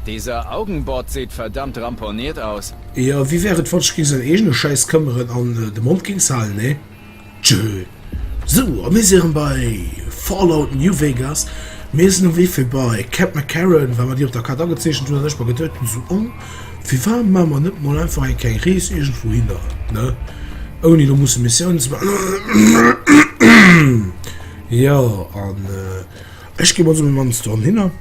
Dieser Augenbart seht verdammt ramponiert aus. Jo wéi wär et wann ech géing säin eegene Schäiss këmmeren an de Mond géing z'halen nee? Tjö. Sou, a mir si erëm bei Fallout New Vegas. Mir sinn um Wee fir bei Cap McCarran, well mer déi op der Kaart agezeechent hunn an ech mer geduet hunn, sou, oh. firwat maache mer net mol einfach eng kleng Rees iergendwouhinner, ne? Ouni do musse Missiounen ze maachen. Jo, an ech ginn also mat menger Mamm dorun hinner.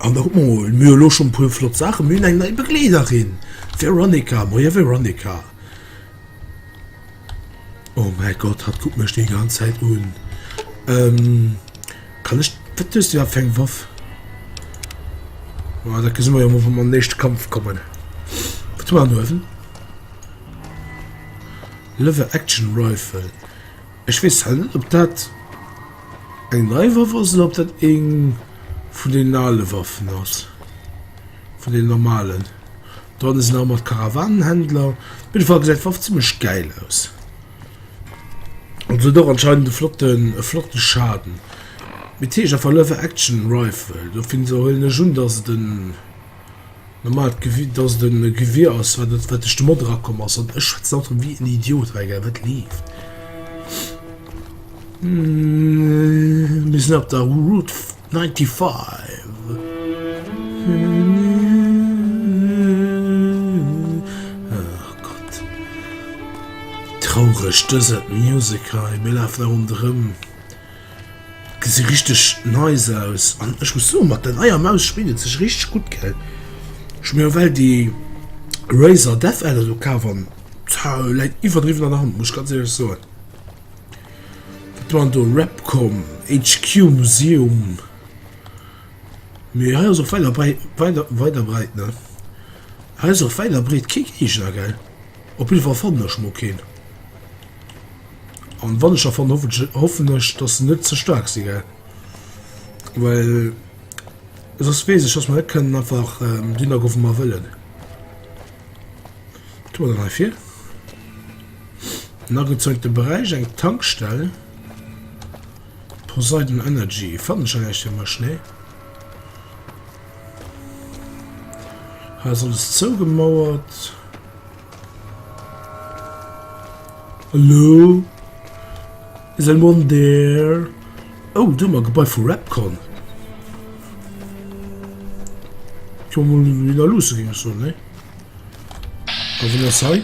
An da kucke mer mol. Mir hu elo schonn e puer flott Saachen. Mir hunn eng nei Begleederin, d'Veronica. Moie Veronica. Oh mäi Gott, hatt kuckt mech déi ganz Zäit un. Ähm, kann ech, wat hues du iwwer fir eng Waff? Oh, dat gesi mer jo mol, wa mer an den éischte Kampf kommen. Wat hu mer an uewen? Lever Action Rifle. Ech weess halt net, ob dat eng nei Waff ass oder ob dat eng vun den ale Waffen ass. Vun den normalen. Dran ass en nach mat Karawanenhändler. Op jidde Fall gesäit d'Waff zimmlech gäil aus. An se huet och anscheinend e flotten, e flotte Schaden. Mee t'heescht einfach Lever Action Rifle. Dofir huelen ech un, dass et en normaalt Gewier, dass et e Gewier ass, wat et, wat duerch de Mod erakomm ass. An ech schwätzen haut erëm wéi en Idiot. Mä egal, wat leeft? Mir sinn op der Route. Traureg dëse Music hei, mee laaft nach un drëm. Gesi richteg nice aus an ech muss soen mat der neier Maus spillt et sech richteg gutt gell. Ech hu mir ewell déi Razer Death Adder do kaf an läit iwwerdriwwen an der Hand muss ech ganz ehrlech soen. Et waren do Repcom, HQ Museum, mee hei ass och wäit a wäit a breit, ne? Hei ass och wäit a breet kee Geegner, gell? Op jidde Fall fannen ech mol keen. An wann ech e fannen, hoffen ech, hoffen ech, dass se net ze staark si, gell? Well soss weess ech, dass mer net kënnen einfach dohinner goen, wou mer wëllen. Wat hu mer dann hei vir? En agezeigte Beräich, eng Tankstell. Poseidon Energy. Fannen ech näischt fir mech, nee. Ha ass alles zougemauert. Hallo? Is anyone there? Oh, do ma Gebai vu Rapcon. Komm, wie da lusse ging so, nee? Auf in der Zeit.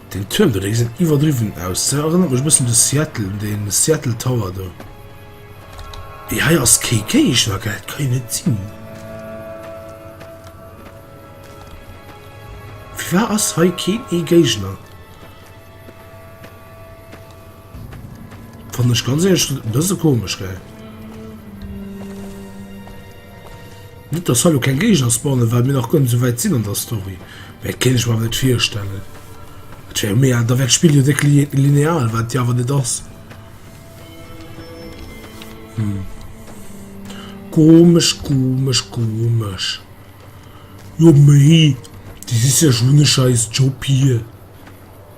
Deen Tuerm do, dee geséit iwwerdriwwen aus. Dee erënnert mech e bëssen de Seattle, un de Seattle Tower do. Mee hei ass kee Géigner, gell? Dat ka jo net sinn. Firwat ass hei keen ee Géigner? Fand ech ganz ehrlich e bësse komesch, gell? Net dass hallo kein Gegner spawnen, weil mir nach gönn so weit sinn an der Story. Mä et kenn ech mer net virstellen. Et wär mé an der Welt spiel jo déck lineal, wat ja awer net ass. Hm. Komesch, komesch, komesch. Jo méi, déi si sech hunn e scheiß Job hier.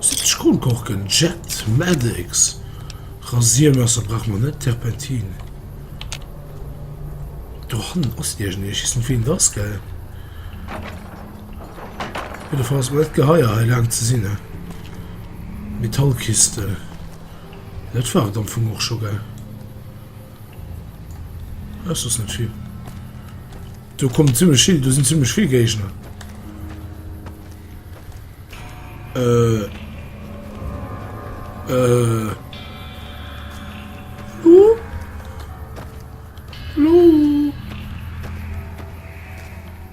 Sämtlech Kronkorken, Jet, Maddex, Rasiermesser brauche mer net, Terpentin. Do hannen ass iergend een, ech weess net wien et ass, gell. Op jidder Fall ass et mer net geheier hei laang ze sinn, hein. Metallkiste, jo dat war et am Fong och scho, gell. Hei ass soss net vill. Do kommen zimmlech vill, do sinn zimmlech vill Géigner.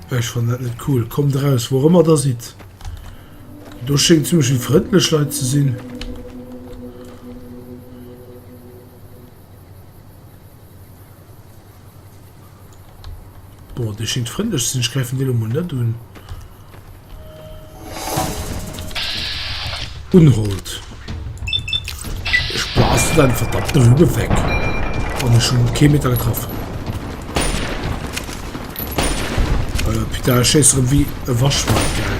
Ech fannen dat net cool. Kommt eraus, wou ëmmer der sidd. Do schéngt ziemlech vill frëndlech Leit ze sinn. Bon dee schingt frëndlech ze sinn, ech gräifen deen lo mol net un. Unhold. Ech blasen deine verdammte Lumme weg. An ech hunn kee Meter getraff. Äh, putain, ech schéiss erëm wéi e Waschmack, gell.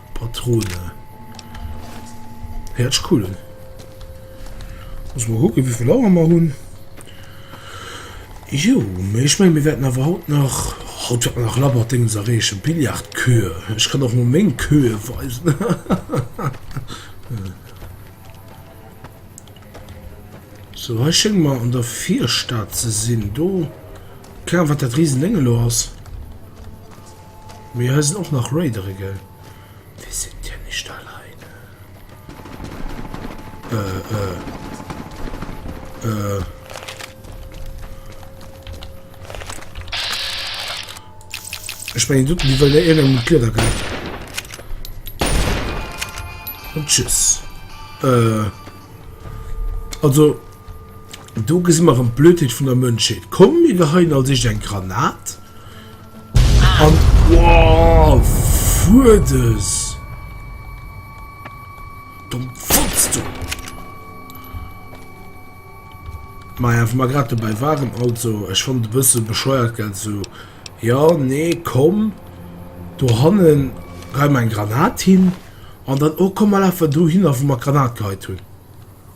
Patrone. Hiertsch cool un. Muss mal gucken, wie viel Auer wir hun. Jo, mais ich mein, wir werden awer haut nach, haut werden wir nach labber Dingens erreechen. Billard Kö. Ich kann och mol meng Köe weisen. So, hei schéngt mer an der Virstad ze sinn. Do, ken Ahnung, wat dat Riesending elo ass. Mir eisen och nach Raidere gell? Wir sind ja nicht alleine Äh äh Äh. Ech mengen doten déi wëll der een ëm d'Glieder gëtt. An tschüss. Äh. Also do gesi mer rëm d'Blödheet vun der Mënschheet. Komm mir geheien als éischt eng Granat. Wow, fuerdes! Dumm Fotz, du! Maja, wo wir gerade dabei waren, also, ich fand ein bisschen bescheuert, gell, so, ja, nee, komm, du hannen, rein mein Granat hin, und dann, oh, komm mal einfach du hin, wo wir Granat geheit hun.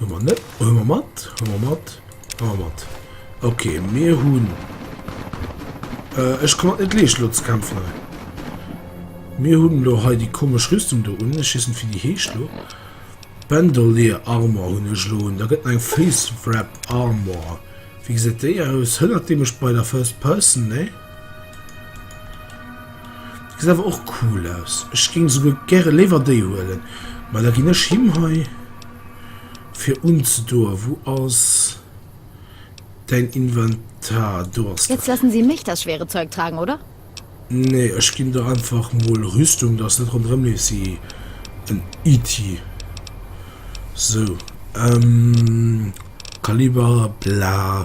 Hummer net hummer mat hummer mat hummer mat ok mir hunn ech kann net leescht lo ze kämpfen hei mir hunn lo hei déi komesch rüstung do un ech weess net wéi déi heescht lo bandolier armor hunn ech lo un da gëtt eng face wrap armor wéi gesäit déi aus hënnert déi mech bei der first person nee Geet awer och cool aus. Ech géing souguer gäre léiwer déi huelen. Mä da ginn ech him hei fir unzedoen. Wou ass däin Inventar? Do ass Jetzt lassen Sie mich das schwere Zeug tragen, oder? Nee, ech ginn der einfach mol Rüstung, dass net ronderëm leeft ewéi en Itti. Sou, ähm, Kaliber, bla.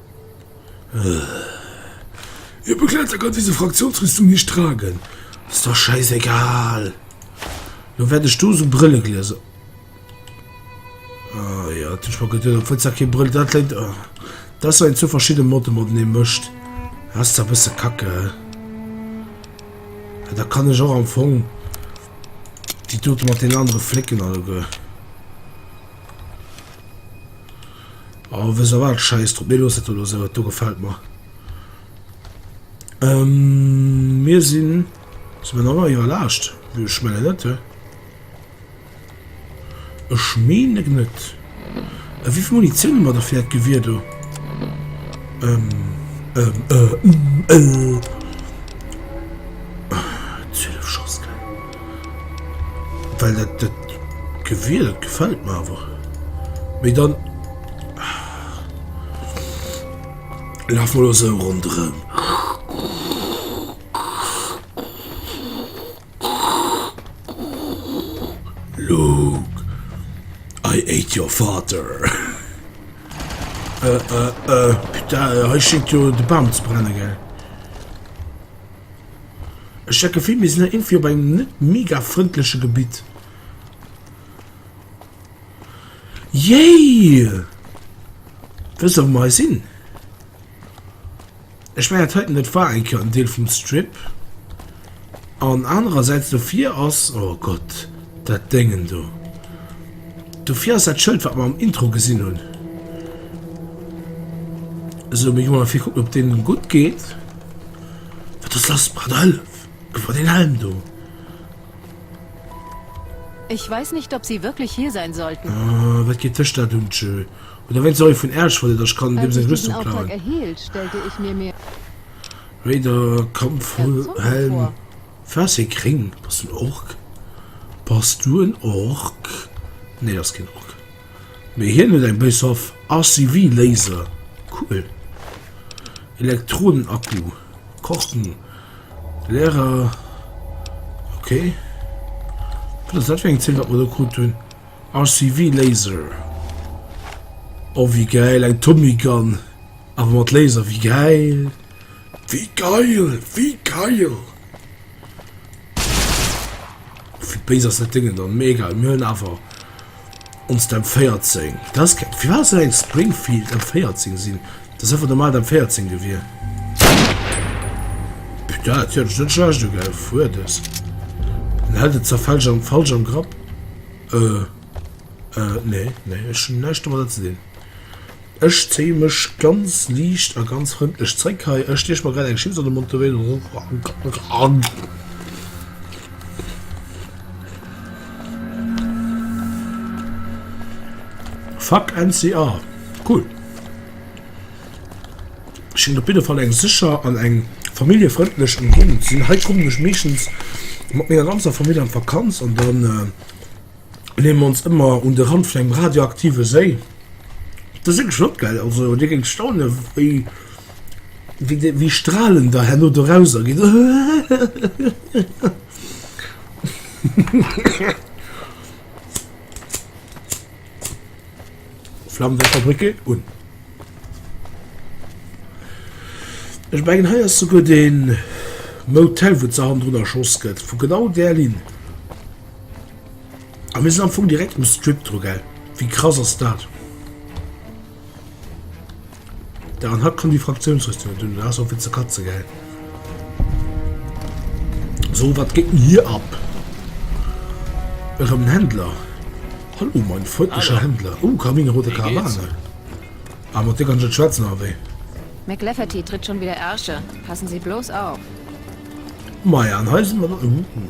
Ihr Begleiter kann diese Fraktionsrüstung nicht tragen. Ist doch scheißegal. Lo wäert ech do sou Brëlleglieser. Ah ja, dat hunn ech mer geduet. Obwuel se kee Brëll, dat läit. Oh. Dat ass, wann een zwou verschidde Modde matenee mëscht. Dat ass zwar e bësse kacke. Mä da kann ech och am Fong déi dote mat den anere Flécken alleguer. Oh wëss a wat, scheiss drop, mir loossen et elo esou, do gefällt mer. Mir sinn si mer nach an hirer Laascht, wéi ech menge net? Ech meen net. Wéi vill Munitioun hu mer der fir dat Gewier do? Zwielef Schoss, gell? Well dat dat Gewier, dat gefält mer awer. Mee dann laf mol esou ronderëm. Luke, I ate your father. Äh, äh, äh, putain, hei schéngt jo de Bam ze brennen, gell? Ech hat d'Gefill, mir sinn hei iergendwéi op engem net mega frëndleche Gebitt. Yay! Wéi solle mer hei sinn? Ech mengen, dat heiten, dat war eng Kéier en Deel vum Strip. An anerersäits dofir ass, oh Gott, dat Déngen do. Dofir ass dat Schëld, wat mer am Intro gesinn hunn. Esou, mir gi mol erfir kucken, ob deenen gutt geet. Wat ass lass mat der Hëllef? Gebrauch deen Helm do! Ich weiß nicht, ob Sie wirklich hier sein sollten. Ah, wat geet dech dat un, tjö. Oder wéinst Sorry vun Äersch wollt et der, ech kann deem seng Rüstung klauen. Raider, Kampfhelm, Fäerst hie kréien. Bass du en Ork? Bass du en Ork? Nee, ass keen Ork. Mee hien huet eng Base of RCV Laser, cool, Elektronen Akku, Korken, Lehrer, ok, wat ass dat fir eng Zeen wat mer do krut hunn? RCV Laser, oh wéi geil, eng Tommy Gun awer mat Laser, wéi geil, wéi geil, wéi geil! Wéi béis ass dat Déngen dann? Mee egal, mir hunn awer. Ons d'M14. Da's ke. Firwat ass dat eng Springfield M14 sin? Dat ass einfach normal d'M14 gewier. Putain, déi hat ech net schlecht ugeheif. Fuer des. Den hätt et zwar falsch am falsch am Grapp. Äh. Äh. Nee. Nee. Ech hun näischt domadder ze dinn. Ech zéie mech ganz liicht a ganz frëndlech zréck hei. Ech stieche mer grad eng Chips an de Mond, dobäi rauche ech eng Zigarett. Fuck NCR, cool! Schéngt op jidde Fall eng sécher an eng familljefrëndlech Ëmgéigend ze sinn. Hei kommen ech meeschtens mat menger ganzer Famill an d'Vakanz an dann. Leeë mer ons ëmmer un de Rand vun engem radioaktive Séi. Dat ass wierklech net gäil. Also Dir géingt staunen, wéi, wéi Stralen da herno dorauser ginn. Flammen der Fabrik ginn un. Ech mengen, hei ass souguer dee Motel, wou d'Sach hannendrun erschoss gëtt, vu genau där Linn. A mir sinn am Fong direkt um Strip dru, gell? Wéi krass ass dat? Da an hat kommen déi Fraktiounsrüstungen dun, dat ass och fir ze katzen, gell? So, wat geet denn hier ab? Erëm en Händler. Hallo, mein freundlicher Hallo. Händler. Oh, Kamine, rote Karawane. Ah, mat dir kann ech net schwätzen, oder wéi? McLafferty tritt schon wieder Ärsche. Passen Sie bloß auf. Maja, an hei sinn mer dann. Uh, uh.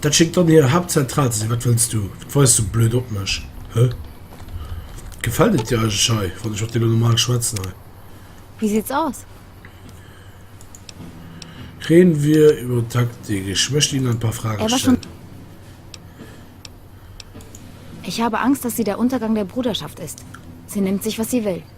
Dat schéngt dann hir Haaptzentral ze sinn. Wat wëlls du? Wat weis du blöd op mech? Hä? Gefält et dir eigentlech hei, wann ech mat dir elo normal schwätzen hei? Wéi sieht's aus? Reden wir über Taktik. Ich möchte Ihnen ein paar Fragen Er war schon. stellen. Ich habe Angst, dass sie der Untergang der Bruderschaft ist. Sie nimmt sich, was sie will.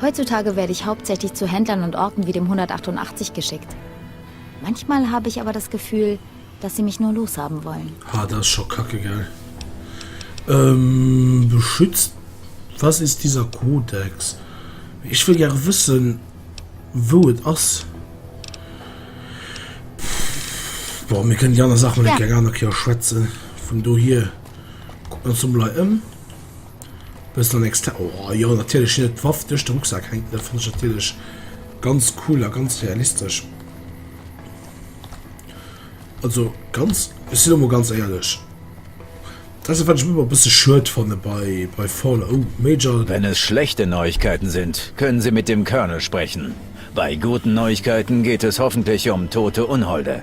Heutzutage werde ich hauptsächlich zu Händlern und Orten wie dem 188 geschickt. Manchmal habe ich aber das Gefühl, dass sie mich nur loshaben wollen. Ah, dat ass scho kacke, gell? Ähm, beschützt, was ist dieser Kodex? Ech wëll gäre wëssen, wou et ass. Bon, mir kënnen déi aner Saach mol eng kleng aner Kéier schwätzen. Vun dohier kucken mer ons emol hei ëm. Bëssen an extern. Oh jo natierlech sinn et d'Waff duerch de Rucksack hänken. Dat fënn ech natierlech ganz cool a ganz realistesch. Also ganz ech sinn emol ganz éierlech. Dat ass e wat ech ëmmer e bësse schued fanne bei bei Fallout. Oh Major. Wenn es schlechte Neuigkeiten sind, können Sie mit dem Colonel sprechen. Bei guten Neuigkeiten geht es hoffentlich um tote Unholde.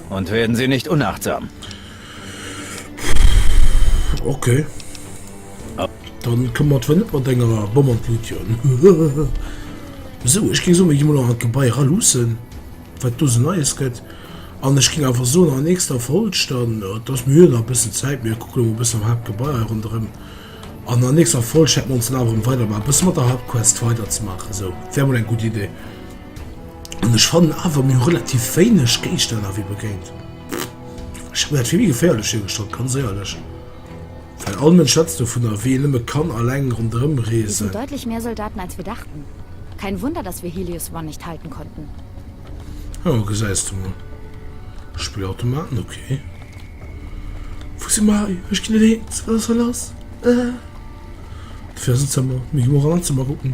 Und werden sie nicht unachtsam. Okay. Dann kommen wir nicht mit einer Bombenlution. so, ich ging so, ich muss noch ein Gebei ralusen, was du so Neues geht. Und ich ging einfach so nach der nächsten Folge, dann, äh, das mir noch ein bisschen Zeit, mir gucken noch ein bisschen am Hauptgebei rundherum. Und in der nächsten Folge hätten wir uns dann einfach weiter mal ein bisschen mit der Hauptquest weiterzumachen. So, wäre wohl eine gute Idee. An ech fannen awer mir hu relativ wéineg Géigestänner wéi begéint. Ech hätt dat fir méi geféierlech virgestallt, ganz éierlech. Well all Mënsch schwätzt dovunner, wéi een nëmme kann alleng ronderëm reesen. Wieso deutlich mehr Soldaten als wir dachten? Kein Wunder, dass wir Helios One nicht halten konnten. Jo, gesäis de mol. Spillautomaten, ok. Wou si mer? Ech ginn net eens, wat ass hei lass? Dofir ass en Zëmmer. Mir gi mol eran an d'Zëmmer kucken.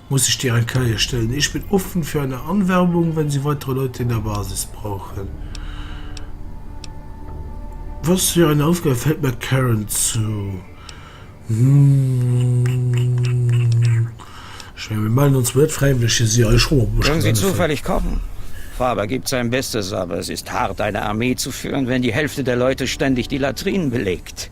muss ech dir eng Keier stellen. Ich bin offen für eine Anwerbung, wenn Sie weitere Leute in der Basis brauchen. Was für eine Aufgabe fällt mir Karen zu? Ich meine, wir melden uns mit Freiwillige, sie euch schon mal Wenn Sie zufällig kommen. Faber gibt sein Bestes, aber es ist hart, eine Armee zu führen, wenn die Hälfte der Leute ständig die Latrinen belegt.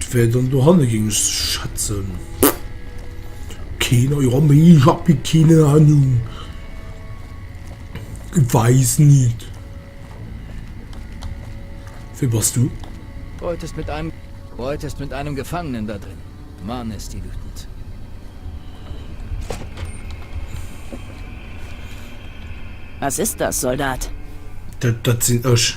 D'wär dann dohanne géing ech schätzen. Keen a jo méi ech hab mi keen Ahnung. Ich weiß nit. Wee bass du? Reutest mit einem Reutest mit einem Gefangenen da drin. Mann is déi wütend. Was ist das, Soldat? Dat dat sinn ech.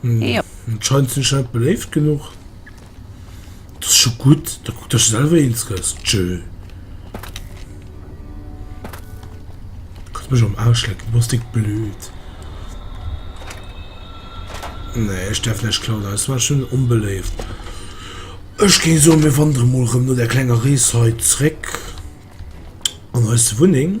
Hm. Ja. Scheint sinn ech net beléift genug. Dat ass scho gutt, da kuckt ech selwer eens gëss. Tschö. Kannst mech am Arsch lecken, du bass dick blöd. Nee, ech däerf net klauen, das war schon onbeléift. Ech géing soen, mir wandere mol rëm no der klenger Rees hei zréck an eis Wunneng.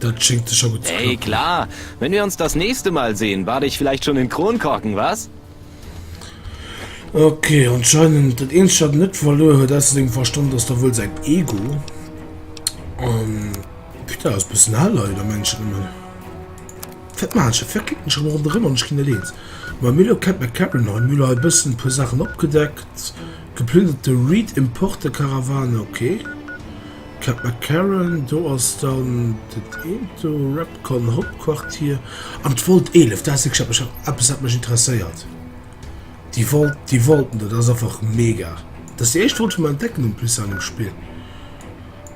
Dat schingt scho gut. Ey klar, wenn wir uns das nächste Mal sehen, bat ich vielleicht schon den Kronkorken, was? Okay, anscheinend dat eens dat net verloer huet aus dem Verstand ass da wuel sein Ego. Um, Peter ass bis na Lei der Menschen immer. Fett Marsch, fir kicken schon run drin an China lehns. Ma Milo kennt mir Kevin neu Müller ein bisschen paar Sachen abgedeckt. Geplünderte Reed Importe Karawane, okay. Cat McCarran, Do ass dann dat eent do, Repcon Hauptquartier, an d'Volt 11, dat ass wierklech eppes wat mech interesséiert. Déi Volt, déi Volten do, dat ass einfach mega. Dat ass déi éischt Volt déi mer entdecken en plus an dem Spill.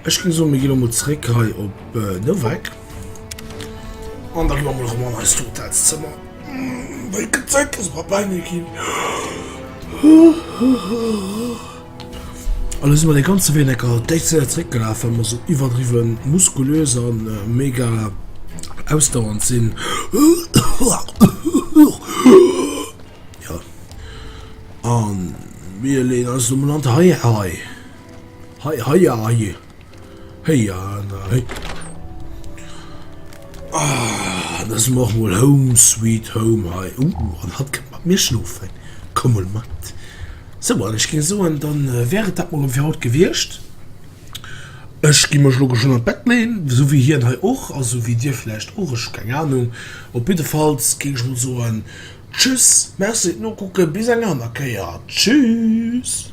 Ech géing soen mir gi lo mol zréck hei op Novak an da gi mer mol erëm an eist Hotelszëmmer well d'Zäit ass mer bal nei ginn. Elo si mer dee ganze Wee enker d'Déif Zéier zréckgelaf, well mer esou iwwerdriwwe muskulös a mega ausdauernd sinn. Jo. A mir leeën eis elo mol an d'Hei-Hei. Hei-Heier-Hei. Héi an a héi. Ah, da si mer och mol Home Sweet Home hei. Uh, an hatt kënnt mat mir schlofen. Komm mol mat. Sou, an ech géing soen, dann wär et dat mol fir haut gewiescht. Ech gi mech elo geschwënn an d'Bett leeën, sou wéi hien hei och, a sou wéi dir vläicht och, ech hu keng Anung. Op jiddefalls géing ech mol soen, Tschüss, merci fir d'Nokucken, bis eng aner Kéier. Tschüss!